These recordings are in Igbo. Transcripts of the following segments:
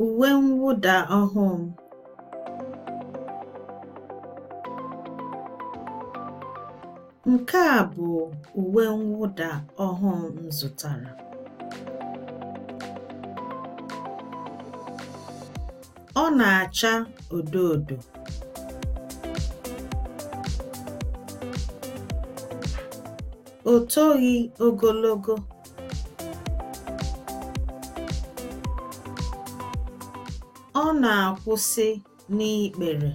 Uwe mwụda ọhụụ m. Nke a bụ uwe mwụda ọhụụ m zụtara. Ọ na-acha odo odo. O toghị ogologo. Ọ na-akwụsị n'ikpere.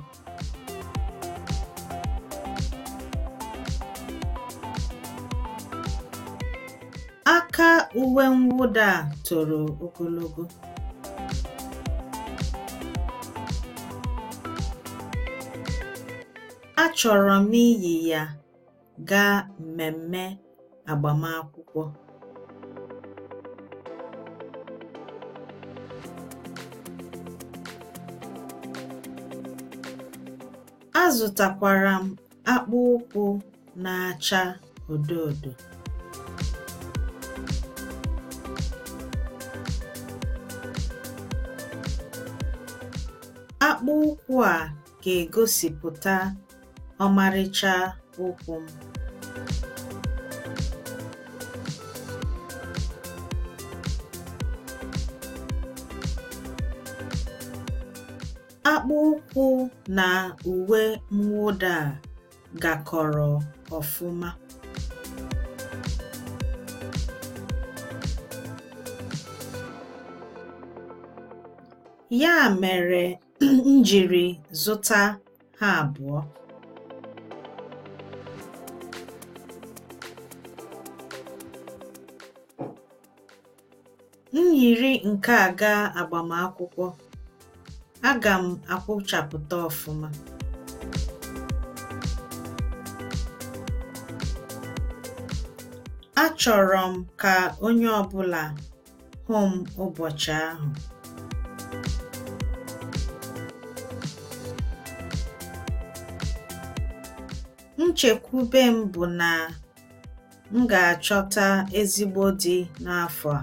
Aka uwe mwụda a toro ogologo. Achọrọ m iyi ya. gaa mmemme agbamakwụkwọ. Azụtakwara m akpụ ụkwụ na-acha odo odo. Akpụ ụkwụ a ga-egosipụta ọmarịcha ụkwụ m. Akpụ ụkwụ na uwe mwụda a gakọrọ ọfụma. Ya mere m jiri zụta ha abụọ m yiri nke a gaa agbamakwụkwọ aga m akwụchapụta ọfụma achọrọ m ka onye ọbụla hụ m ụbọchị ahụ. Nchekwube m bụ na m ga-achọta ezigbo di n'afọ a.